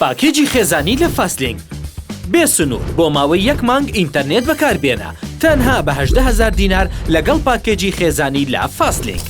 پاکێجی خێزانی لە فاستلینک بێ سنوور بۆ ماوەی یەک مانگ ئینتەرنێت بەکاربێنە تەنها بە هەژدە هەزار دینار لەگەڵ پاکێجی خێزانی لە فاستلینک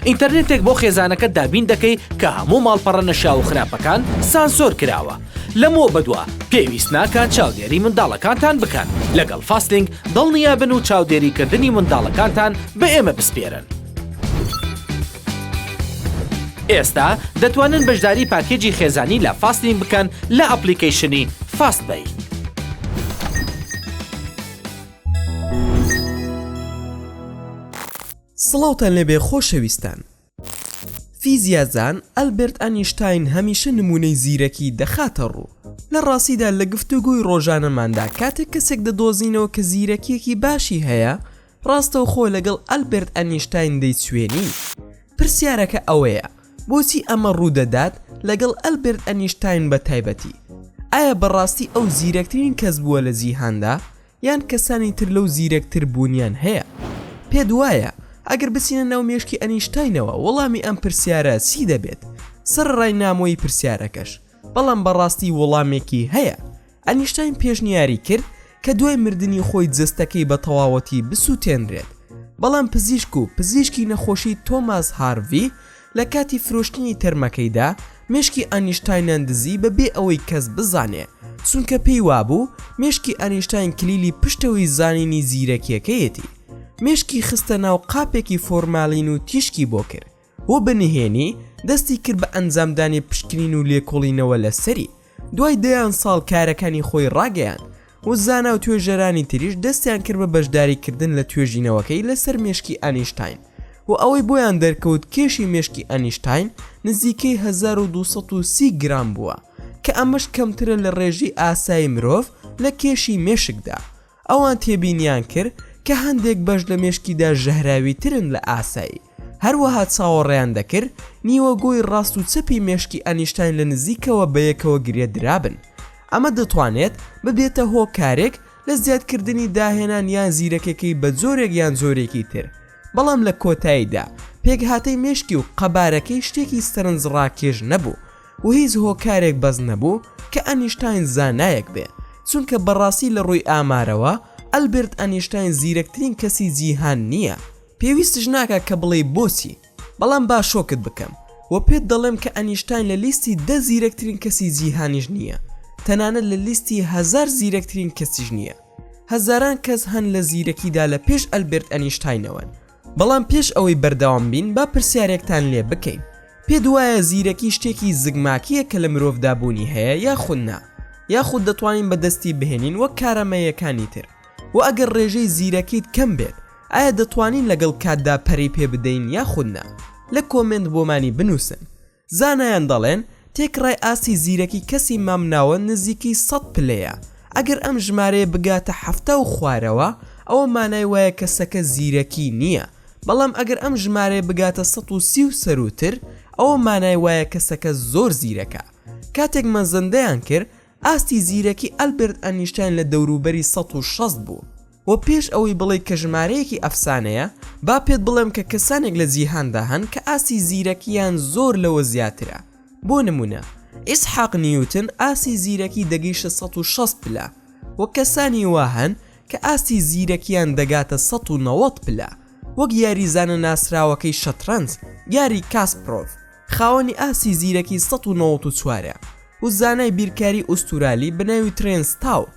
ئینتەرنێتێک بۆ خێزانەکەت دابین دەکەی کە هەموو ماڵپەڕە نەشیاو و خراپەکان سانسۆر کراوە لەمەوە بەدوا پێویست ناکات چاودێری منداڵەکانتان بکەن لەگەڵ فاستلینک دڵنیابن و چاودێریکردنی منداڵەکانتان بە ئێمە بسپێرن. ئێستا دەتوانن بەشداری پاکێجی خێزانی لە فاستین بکەن لە ئەپلیکەیشنی فاست بەی. سڵاوتان لێبێ خۆشەویستان. فیزیازان ئەلبرت ئەنیشتین هەمیشە نمونەی زیرەکی دەخاتە ڕوو. لە ڕاستیدا لە گفتوگۆی ڕۆژانەماندا کاتێک کەسێک دەدۆزینەوە کە زیرەکیەکی باشی هەیە، ڕاستەوخۆ لەگەڵ ئەلبێرت ئەنیشتاین دەیچوێنی؟ پرسیارەکە ئەوەیە، بۆچی ئەمە ڕوودەدات لەگەڵ ئەلبێرت ئەنیشتاین بە تایبەتی؟ ئایا بەڕاستی ئەو زیرەکترین کەس بووە لە جیهاندا، یان کەسانی تر لەو زیرەکتر بوونیان هەیە؟ پێت وایە ئەگەر بچینە ناو مێشکی ئەنیشتاینەوە وەڵامی ئەم پرسیارە چی دەبێت؟ سەرەڕای نامۆیی پرسیارەکەش، بەڵام بەڕاستی وڵامێکی هەیە. ئەنیشتاین پێشنیاری کرد کە دوای مردنی خۆی جەستەکەی بە تەواوەتی بسووتێنرێت، بەڵام پزیشک و پزیشکی نەخۆشی تۆماس هارڤی لە کاتی فرۆشتنی تەرمەکەیدا مێشکی ئەنیشتاینیان دزی بەبێ ئەوەی کەس بزانێ، چونکە پێی وابوو مێشکی ئەنیشتاین کلیلی پشتەوەی زانینی زیرەکییەکەیەتی. مێشکی خستە ناو قاپێکی فۆرمالین و تیشکی بۆ کرد. بۆ بە نهێنی دەستی کرد بە ئەنجامدانی پشکنین و لێکۆڵینەوە لە سەری دوای دەیان ساڵ کارەکانی خۆی ڕاگەیان و زانا و توێژەرانی تریش دەستیان کرد بە بەشداری کردن لە توێژینەوەکەی لەسەر مێشکی ئەنیشتین و ئەوەی بۆیان دەرکەوت کێشی مێشکی ئەنیشتین نزیکەی 1230 گرام بووە کە ئەمەش کەمترە لە ڕێژی ئاسایی مرۆڤ لە کێشی مێشکدا ئەوان تێبینیان کرد کە هەندێک بەش لە مێشکیدا ژەهراویترن لە ئاسایی، هەروەها چاوەڕێیان دەکرد نیوەگۆی ڕاست و چەپی مێشکی ئەنیشتاین لە نزیکەوە بەیەکەوە گرێ درابن. ئەمە دەتوانێت ببێتە هۆکارێک لە زیادکردنی داهێنان یان زیرەکێکەی بە جۆرێک یان جۆرێکی تر، بەڵام لە کۆتاییدا پێکهاتەی مێشکی و قەبارەکەی شتێکی سەرنجڕاکێش نەبوو. و هیچ هۆکارێک بەس نەبوو کە ئەنیشتاین زانایەک بێ چونکە بەڕاستی لە ڕووی ئامارەوە ئەلبێرت ئەنیشتاین زیرەکترین کەسی جیهان نییە پێویستش ناکا کە بڵێی بۆچی بەڵام با شۆکت بکەم و پێت دەڵێم کە ئەنیشتاین لە لیستی دە زیرەکترین کەسی جیهانیش نییە تەنانەت لە لیستی هەزار زیرەکترین کەسیش نییە هەزاران کەس هەن لە زیرەکیدا لە پێش ئەلبێرت ئەنیشتاینەوەن بەڵام پێش ئەوەی بەردەوام بین با پرسیارێکتان لێ بکەین پێت وایە زیرەکی شتێکی زگماکییە کە لە مرۆڤدا بوونی هەیە یاخود نا یاخود دەتوانین بەدەستی بهێنین وەک کارامەییەکانی تر وە ئەگەر ڕێژەی زیرەکیت کەم بێت ئایا دەتوانین لەگەڵ کاتدا پەرەی پێ بدەین یاخود نا لە کۆمێنت بۆمانی بنووسن زانایان دەڵێن تێکڕای ئاستی زیرەکی کەسی مامناوەند نزیکی سەد پلەیە، ئەگەر ئەم ژمارەیە بگاتە حەفتا و خوارەوە ئەوە مانای وایە کەسەکە زیرەکی نییە، بەڵام ئەگەر ئەم ژمارەیە بگاتە سەد و سی و سەرووتر ئەوە مانای وایە کەسەکە زۆر زیرەکە. کاتێک مەزەندەیان کرد ئاستی زیرەکی ئەلبێرت ئەنیشتاین لە دەوروبەری سەد و شەست بوو و پێش ئەوەی بڵێیت کە ژمارەیەکی ئەفسانەیە، با پێت بڵێم کە کەسانێک لە جیهاندا هەن کە ئاستی زیرەکییان زۆر لەوە زیاترە. بۆ نموونە، ئیسحاق نیوتن ئاستی زیرەکی دەگەیشتە سەد و شەست پلە و کەسانی وا هەن کە ئاستی زیرەکییان دەگاتە سەد و نەوەد پلە، وەک یاریزانە ناسراوەکەی شەترەنج، گاری کاسپرۆڤ. خاوەنی ئاستی زیرەکی سەد و نەوەد و چوار ە و زانای بیرکاری ئوستورالی بە ناوی ترێنس تاو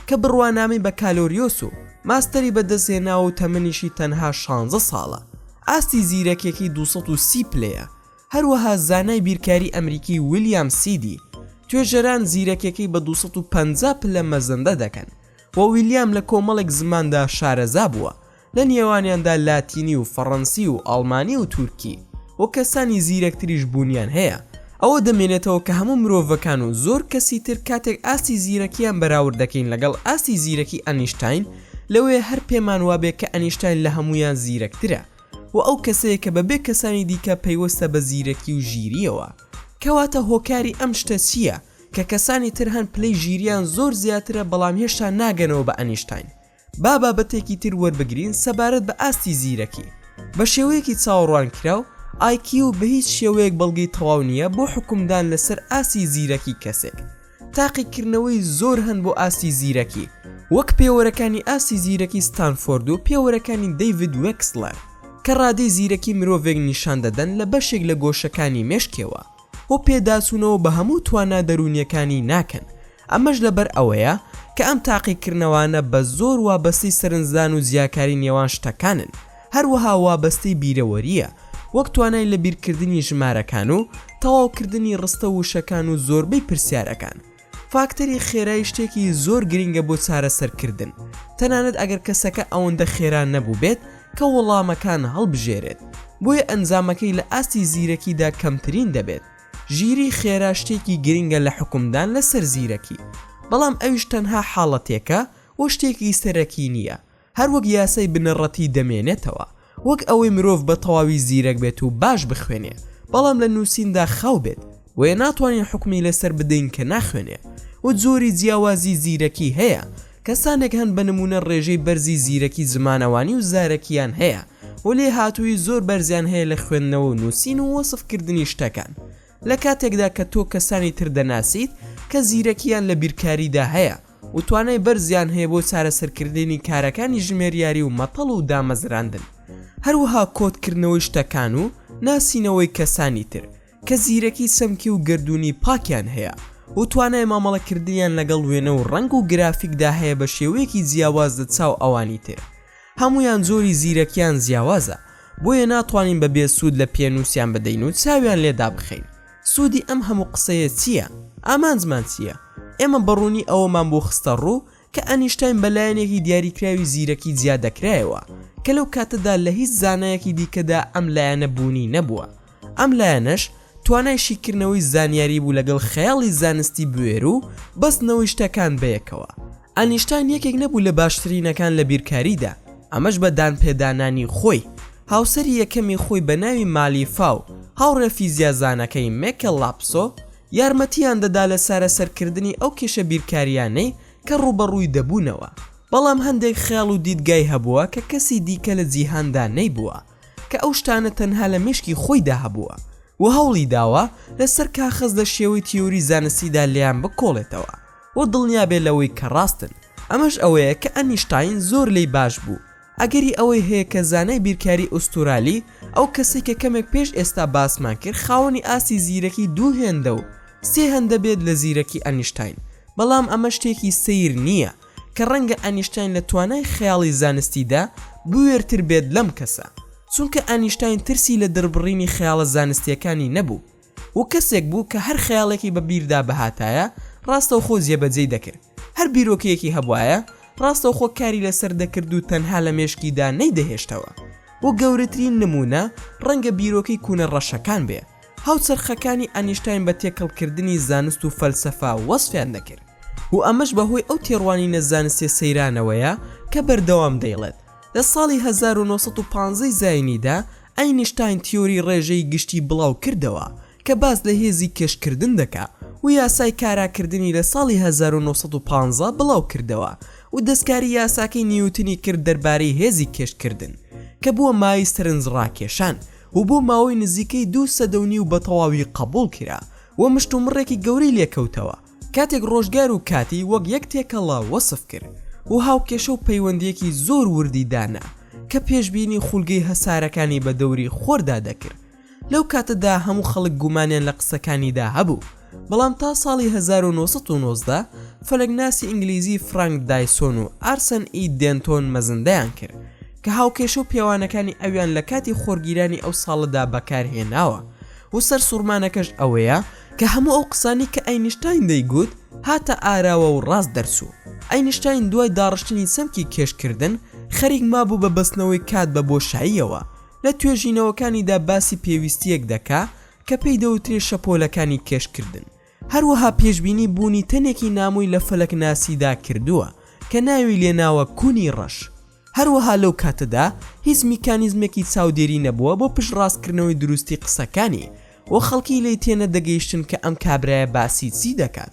کە بڕوانامەی بەکالۆریۆس و ماستەری بەدەستهێناوە و تەمەنیشی تەنها شانزە ساڵە ئاستی زیرەکیەکەی دوو سەد و سی پلەیە هەروەها زانای بیرکاری ئەمریکی ویلیام سیدی توێژەران زیرەکیەکەی بە دوو سەد و پەنجا پلە مەزەندە دەکەن و ویلیام لە کۆمەڵێک زماندا شارەزا بووە لە نێوانیاندا لاتینی و فەڕەنسی و ئاڵمانی و تورکی و کەسانی زیرەکتریش بوونیان هەیە، ئەوە دەمێنێتەوە کە هەموو مرۆڤەکان و زۆر کەسی تر کاتێک ئاستی زیرەکییان بەراورد دەکەین لەگەڵ ئاستی زیرەکی ئەنیشتاین، لەوەیە هەر پێمان وابێ کە ئەنیشتاین لە هەموویان زیرەکترە و ئەو کەسەیە کە بەبێ کەسانی دیکە پەیوەستە بە زیرەکی و ژیرییەوە. کەواتە هۆکاری ئەم شتە چییە کە کەسانی تر هەن پلەی ژیرییان زۆر زیاترە بەڵام هێشتا ناگەنەوە بە ئەنیشتاین؟ با بابەتێکی تر وەربگرین سەبارەت بە ئاستی زیرەکی. بە شێوەیەکی چاوەڕوانکراو، IQ بە هیچ شێوەیەک بەڵگەی تەواو نییە بۆ حوکمدان لەسەر ئاستی زیرەکی کەسێک. تاقیکردنەوەی زۆر هەن بۆ ئاستی زیرەکی، وەک پێوەرەکانی ئاستی زیرەکی ستانفۆرد و پێوەرەکانی دەیڤید وێکسڵەر، کە ڕادەی زیرەکی مرۆڤێک نیشان دەدەن لە بەشێک لە گۆشەکانی مێشکێوە. و پێداچوونەوە بە هەموو توانا دەروونییەکانی ناکەن، ئەمەش لەبەر ئەوەیە کە ئەم تاقیکردنەوانە بە زۆر وابەستەی سەرنجدان و جیاکاری نێوان شتەکانن، هەروەها وابەستەی بیرەوەرییە، وەک توانای لەبیرکردنی ژمارەکان و تەواوکردنی ڕستە وشەکان و زۆربەی پرسیارەکان. فاکتەری خێرای شتێکی زۆر گرینگە بۆ چارەسەرکردن، تەنانەت ئەگەر کەسەکە ئەوەندە خێرا نەبووبێت کە وەڵامەکان هەڵبژێرێت، بۆیە ئەنجامەکەی لە ئاستی زیرەکیدا کەمترین دەبێت. ژیریی خێرا شتێکی گرینگە لە حوکمدان لەسەر زیرەکی، بەڵام ئەویش تەنها حاڵەتێکە و شتێکی سەرەکی نییە. هەر وەک یاسای بنەڕەتی دەمێنێتەوە، وەک ئەوەی مرۆڤ بە تەواوی زیرەک بێت و باش بخوێنێ، بەڵام لە نووسیندا خاو بێت، بۆیە ناتوانین حوکمی لەسەر بدەین کە ناخوێنێ و جۆری جیاوازی زیرەکی هەیە، کەسانێک هەن بە نموونە ڕێژەی بەرزی زیرەکی زمانەوانی و زارەکییان هەیە و لێهاتوویی زۆر بەرزیان هەیە لە خوێندنەوە و نووسین و وەسفکردنی شتەکان، لە کاتێکدا کە تۆ کەسانی تر دەناسیت کە زیرەکییان لە بیرکاریدا هەیە و توانای بەرزیان هەیە بۆ چارەسەرکردنی کارەکانی ژمێریاری و مەتەڵ و دامەزراندن، هەروەها کۆدکردنەوەی شتەکان و ناسینەوەی کەسانی تر کە زیرەکی چەمکی و گەردوونی پاکیان هەیە و توانای مامەڵەکردنیان لەگەڵ وێنە و ڕەنگ و گرافیکدا هەیە بە شێوەیەکی جیاواز لە چاو ئەوانی تر، هەموویان جۆری زیرەکیان جیاوازە بۆیە ناتوانین بە بێ سوود لە پێنووسیان بدەین و چاویان لێ دابخەین سوودی ئەم هەموو قسەیە چییە؟ ئامانجمان چییە؟ ئێمە بە ڕوونی ئەوەمان بۆ خستە ڕوو کە ئەنیشتاین بە لایەنێکی دیاریکراوی زیرەکی جیا دەکرایەوە کە لەو کاتەدا لە هیچ زانایەکی دیکەدا ئەم لایەنە بوونی نەبووە ئەم لایەنەش توانای شیکردنەوەی زانیاری بوو لەگەڵ خەیاڵی زانستی بوێر و بەستنەوەی شتەکان بەیەکەوە. ئەنیشتاین یەکێک نەبوو لە باشترینەکان لە بیرکاریدا، ئەمەش بە دانپێدانانی خۆی، هاوسەری یەکەمی خۆی بە ناوی مالیفا و هاوڕێ فیزیازانەکەی مێکێل لاپسۆ، یارمەتییان دەدا لە چارەسەرکردنی ئەو کێشە بیرکارییانەی کە ڕووبەڕووی دەبوونەوە. بەڵام هەندێک خەیاڵ و دیدگای هەبووە کە کەسی دیکە لە جیهاندا نەیبووە. کە ئەو شتانە تەنها لە مێشکی خۆیدا هەبووە و هەوڵی داوە لەسەر کاخەز لە شێوەی تیۆری زانستیدا لێیان بکۆڵێتەوە و دڵنیابێت لەوەی کە ڕاستن، ئەمەش ئەوەیە کە ئەنیشتاین زۆر لێی باش بوو، ئەگەری ئەوەی هەیە کە زانای بیرکاری ئوستورالی، ئەو کەسەی کە کەمێک پێش ئێستا باسمان کرد خاوەنی ئاستی زیرەکی دوو هێندە و سێ هەندە بێت لە زیرەکی ئەنیشتاین، بەڵام ئەمە شتێکی سەیر نییە، کە ڕەنگە ئەنیشتاین لە توانای خەیاڵی زانستیدا بوێرتر بێت لەم کەسە، چونکە ئەنیشتاین ترسی لە دڕبڕینی خەیاڵە زانستییەکانی نەبوو و کەسێک بوو کە هەر خەیاڵێکی بە بیردا بهاتایە ڕاستەوخۆ جێبەجێی دەکرد، هەر بیرۆکەیەکی هەبوایە ڕاستەوخۆ کاری لەسەر دەکرد و تەنها لە مێشکیدا نەیدەهێشتەوە و گەورەترین نموونە ڕەنگە بیرۆکەی کونە ڕەشەکان بێ. هاوچەرخەکانی ئەنیشتاین بە تێکەڵکردنی زانست و فەلسەفە وەسفیان دەکرد و ئەمەش بەهۆی ئەو تێڕوانینە زانستیە سەیرانەوەیە کە بەردەوام دەیڵێت لە ساڵی هەزار و نۆ سەد و پازدە ی زاینیدا ئەینیشتاین تیۆری ڕێژەی گشتی بڵاو کردەوە کە باس لە هێزی کێشکردن دەکا و یاسای کاراکردنی لە ساڵی هەزار و نۆ سەد و پازدە بڵاو کردەوە و دەستکاری یاساکەی نیوتنی کرد دەربارەی هێزی کێشکردن کە بووە مایەی سەرنجڕاکێشان و بۆ ماوەی نزیکەی دوو سەدە و نیو بەتەواوی قەبووڵ کرا و مشتومڕێکی گەورەی لێ کەوتەوە کاتێک ڕۆژگار و کاتی وەک یەک تێکەڵە وەسف کرد و هاوکێشە و پەیوەندییەکی زۆر وردی دانا کە پێشبینی خولگەی هەسارەکانی بە دەوری خۆردا دەکرد لەو کاتەدا هەموو خەڵک گومانیان لە قسەکانیدا هەبوو. بەڵام تا ساڵی هەزار و نۆ سەد و نۆزدە فەلەکناسی ئینگلیزی فرانک دایسۆن و ئارسەن ئی دێنتۆن مەزندەیان کرد کە هاوکێشە و پێوانەکانی ئەویان لە کاتی خۆرگیرانی ئەو ساڵەدا بەکار هێناوە و سەرسوڕمانەکەش ئەوەیە کە هەموو ئەو قسانەی کە ئەینشتاین دەیگوت هاتە ئاراوە و ڕاست دەرچوو ئەینشتاین دوای داڕشتنی چەمکی کێشکردن خەریک مابوو بە بەستنەوەی کات بە بۆشاییەوە لە توێژینەوەکانیدا باسی پێویستییەک دەکا کە پێی دەوترێ شەپۆلەکانی کێشکردن، هەروەها پێشبینی بوونی تەنێکی نامۆی لە فەلەکناسیدا کردووە کە ناوی لێناوە کونی ڕەش، هەروەها لەو کاتەدا هیچ میکانیزمێکی چاودێری نەبووە بۆ پشتڕاستکردنەوەی دروستی قسەکانی و خەڵکی لێی تێنەدەگەیشتن کە ئەم کابرایە باسی چی دەکات.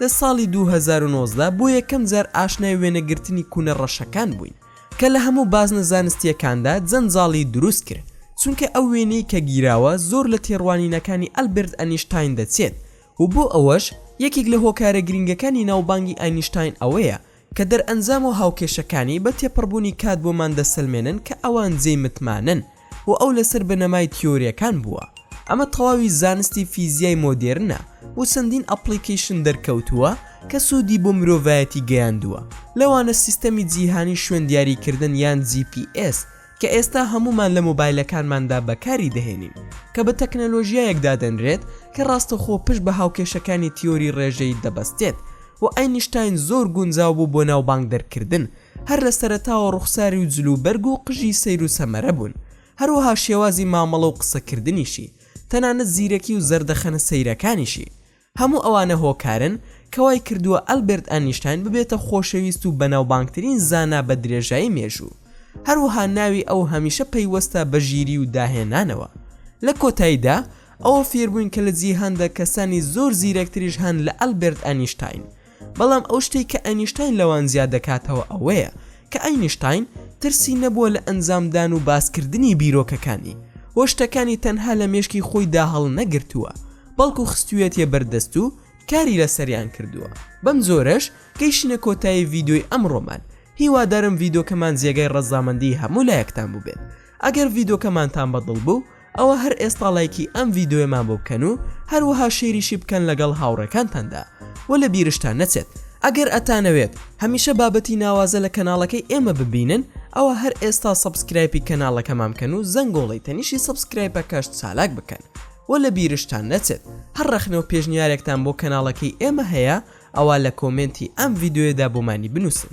لە ساڵی دوو هەزار و نۆزدە بۆ یەکەم جار ئاشنای وێنەگرتنی کوونە ڕەشەکان بووین کە لە هەموو بازنە زانستییەکاندا جەنجاڵی دروست کرد چونکە ئەو وێنەی کە گیراوە زۆر لە تێڕوانینەکانی ئەلبێرت ئەنیشتاین دەچێت و بۆ ئەوەش یەکێک لە هۆکارە گرینگەکانی ناوبانگی ئەینشتاین ئەوەیە کە دەرئەنجام و هاوکێشەکانی بە تێپەڕبوونی کات بۆمان دەسەلمێنن کە ئەوان جێی متمانەن و ئەو لەسەر بنەمای تیۆرییەکان بووە. ئەمە تەواوی زانستی فیزیای مۆدێرنە و چەندین ئەپڵیکەیشن دەرکەوتووە کە سوودی بۆ مرۆڤایەتی گەیاندووە، لەوانە سیستەمی جیهانی شوێندیاریکردن یان جی پی ئێس، کە ئێستا هەموومان لە مۆبایلەکانماندا بەکاری دەهێنین، کە بە تەکنەلۆژیایەک دادەنرێت کە ڕاستەوخۆ پشت بە هاوکێشەکانی تیۆری ڕێژەیی دەبەستێت و ئەینشتاین زۆر گونجاو بوو بۆ ناوبانگ دەرکردن، هەر لە سەرەتاوە ڕوخساری و جلوبەرگ و قژی سەیر و سەمەرە بوون، هەروەها شێوازی مامەڵە و قسەکردنیشی، تەنانەت زیرەکی و زەردەخەنە سەیرەکانیشی. هەموو ئەوانە هۆکارن کە وای کردووە ئەلبێرت ئەنیشتاین ببێتە خۆشەویست و بەناوبانگترین زانا بە درێژایی مێژوو. هەروەها ناوی ئەو هەمیشە پەیوەستە بە ژیری و داهێنانەوە. لە کۆتاییدا، ئەوە فێربووین کە لە جیهاندا کەسانی زۆر زیرەکتریش هەن لە ئەلبێرت ئەنیشتاین. بەڵام ئەو شتەی کە ئەینیشتاین لەوان زیاد دەکاتەوە ئەوەیە کە ئەینیشتاین ترسی نەبووە لە ئەنجامدان و باسکردنی بیرۆکەکانی و شتەکانی تەنها لە مێشکی خۆیدا هەڵنەگرتووە بەڵکو خستوویەتیە بەر دەست و کاری لەسەریان کردووە. بەم جۆرەش گەیشتینە کۆتایی ڤیدۆی ئەمڕۆمان هیوادارم ڤیدۆکەمان جێگای ڕەزامەندی هەموو لایەکتان بووبێت ئەگەر ڤیدۆکەمانتان بەدڵ بوو، ئەوە هەر ئێستا ڵایکی ئەم ڤیدۆیەمان بۆ بکەن و هەروەها شەیریشی بکەن لەگەڵ هاوڕێکانتاندا وە لە بیرشتان نەچێت ئەگەر ئەتانەوێت هەمیشە بابەتی ناوازە لە کەناڵەکەی ئێمە ببینن ئەوە هەر ئێستا سەبسکرایپی کەناڵەکەمان بکەن و زەنگۆڵەی تەنیشی سەبسکرایپەکەش چالاک بکەن وە لە بیرشتان نەچێت هەر ڕەخنە و پێشنیارێکتان بۆ کەناڵەکەی ئێمە هەیە ئەوا لە کۆمێنتی ئەم ڤیدۆیەدا بۆمانی بنووسن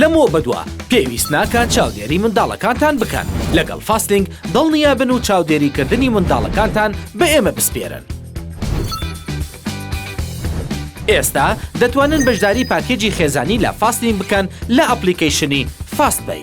لەمەوە بەدوا پێویست ناکات چاودێری منداڵەکانتان بکەن، لەگەڵ فاستینگ دڵنیا بن و چاودێریکردنی منداڵەکانتان بە ئێمە بسپێرن. ئێستا دەتوانن بەشداری پاکێجی خێزانی لە فاستینگ بکەن لە ئەپڵیکەیشنی فاست پەی.